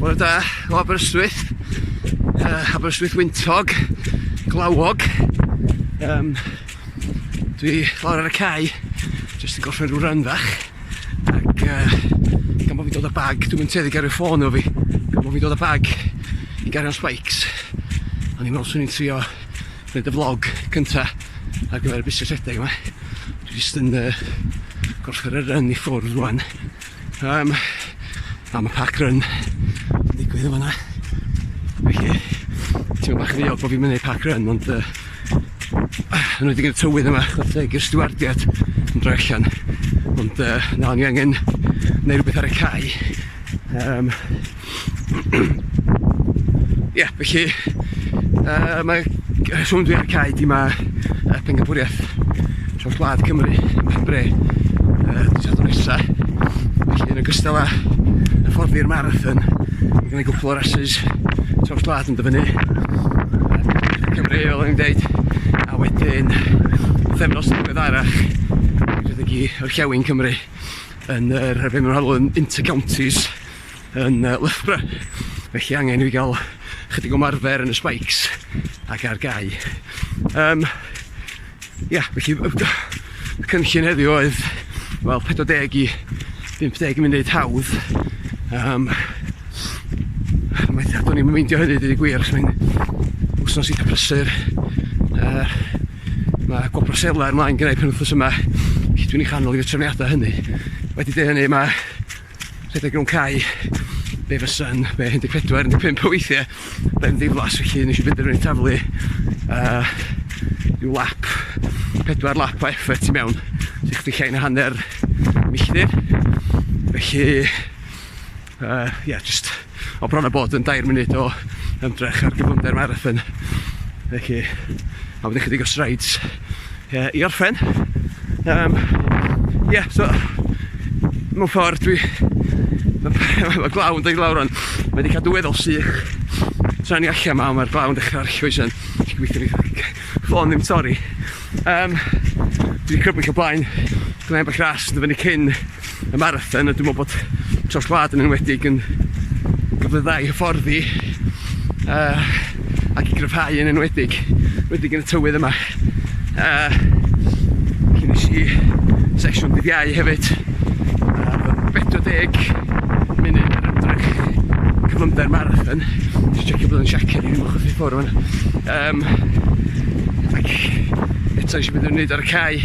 Bore da o Aberystwyth, uh, Aberystwyth Wyntog, Glawog. Um, dwi lawr ar y cae, jyst yn gorffen rhyw ran fach. Ac uh, gan bod fi'n dod â bag, dwi'n mynd teddig ar y ffôn o fi. Gan bod fi'n dod â bag i gario spikes. A ni'n meddwl swn i'n trio gwneud y vlog cynta ar gyfer y busnes rhedeg yma. Dwi jyst yn uh, gorffen y run i ffwrdd rwan. Yym, a ma' park run yn digwydd yn fan'na. Felly, teimlo bach yn ddiog bo' fi'm yn neud park run ond yy yn enwedig yn y tywydd yma chware teg i'r stiwardiad yn droi allan ond yy na o'n i angen neu' rwbeth ar y cae yym Ie, yeah, felly, yy, mae rheswm dwi ar y cae 'di ma' yy pencampwriaeth traws wlad Cymru ym Mhenbre yy dydd Sadwrn nesa. Felly yn ogystal â hyfforddi'r marathon, ma' gynna i gwpwl o rasys traws wlad yn dod fyny. Yy Cymru fel o'n i'n deud, a wedyn pythefnos ddiweddarach rhedeg i Orllewin Cymru yn yr yy be' ma' nhw'n alw'n inter-counties yn yy Loughborough felly angen i fi gael chydig o marfer yn y spikes ac ar gau um, ia felly y cynllun heddiw oedd wel 40 i 50 munud hawdd um, mae do'n i'n meindio hynny dwi gwir achos mae'n wsnos eitha prysur uh, mae gwobr selar ymlaen gyda'i penwthnos yma felly dwi'n ei chanol i'r trefniadau hynny wedi dweud hynny mae Rhedeg rownd cae, be fy sun, be 14, 15 o weithie, ben ddiflas felly nes i benderfynu taflu uh, rhyw lap, pedwar lap o effort i mewn, sy'n chdi llai na hanner milltir. Felly, uh, yeah, just o bron a bod yn dair munud o ymdrech ar gyflymder marathon felly a wedyn chydig o strides yy i orffen yym ie yeah, so mewn ffordd dwi mae glaw yn dod i lawr rwan mae wedi cadw weddol sych tra ni allan ma mae'r glaw yn dechrau arllwys yn gweithio ni ffôn ddim torri Um, dwi wedi crybwyll o blaen gwneud bach ras yn dyfynu cyn y marathon a dwi'n meddwl bod tros gwlad yn enwedig yn gyfle dda i hyfforddi uh, ac i gryfhau yn enwedig enwedig yn y tywydd yma uh, cyn nes i sesiwn dydd iau hefyd uh, 40 munud ar ymdrech cyflymder marathon jyst checio bod yn siaced i ddim ochr i ffwrdd Um, ac eto eisiau beth i'n wneud ar y cae.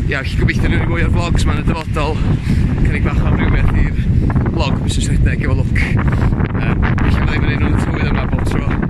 Ia, felly gobeithio rhywun i fwy o'r vlogs ma'n y dyfodol. Cynnig bach o amrywiaeth i'r vlog mis ys redeg efo look. Um, felly byddai fy'n un o'n tywydd yma bob tro.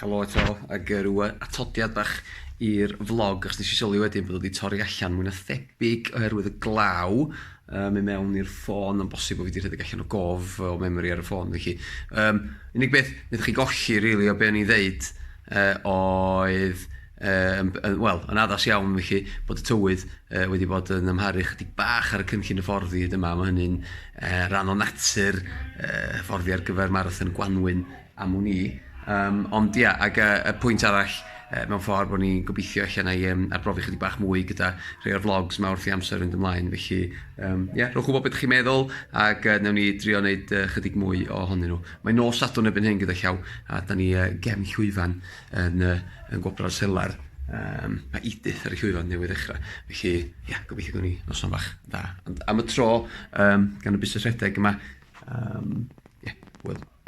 Helo eto, ac yy ryw yy atodiad bach i'r vlog, achos nes i sylwi wedyn bod o 'di torri allan mwy na thebyg oherwydd y glaw yn mynd mewn i'r ffôn, ma'n bosib bo' fi 'di rhedeg allan o gof o memory ar y ffôn felly. Yym, unig beth naethoch chi golli rili o be' o'n i'n ddeud yy oedd yym yn wel, yn addas iawn felly, bod y tywydd yy wedi bod yn amharu chydig bach ar y cynllun hyfforddi hyd yma, ma' hynny'n yy ran o natur yy hyfforddi ar gyfer marathon y gwanwyn. am wn i. Yym ond ia, ac yy y pwynt arall yy mewn ffordd bod ni'n gobeithio ella wna i yym arbrofi chydig bach mwy gyda rhai o'r vlogs 'ma wrth i amser fynd ymlaen, felly yym ia, rhowch wybod beth chi'n meddwl ac yy wnawn ni drio wneud yy chydig mwy ohonyn nhw. Mae nos Sadwrn erbyn hyn gyda llaw a dan ni yy gefn llwyfan yn yy yn Gwobrau'r Selar, yym mae Edith ar y llwyfan newydd ddechrau, felly ia, gobeithio gawn ni noson bach dda. Ond am y tro, yym gan y busnes rhedeg yma, yym ia, hwyl.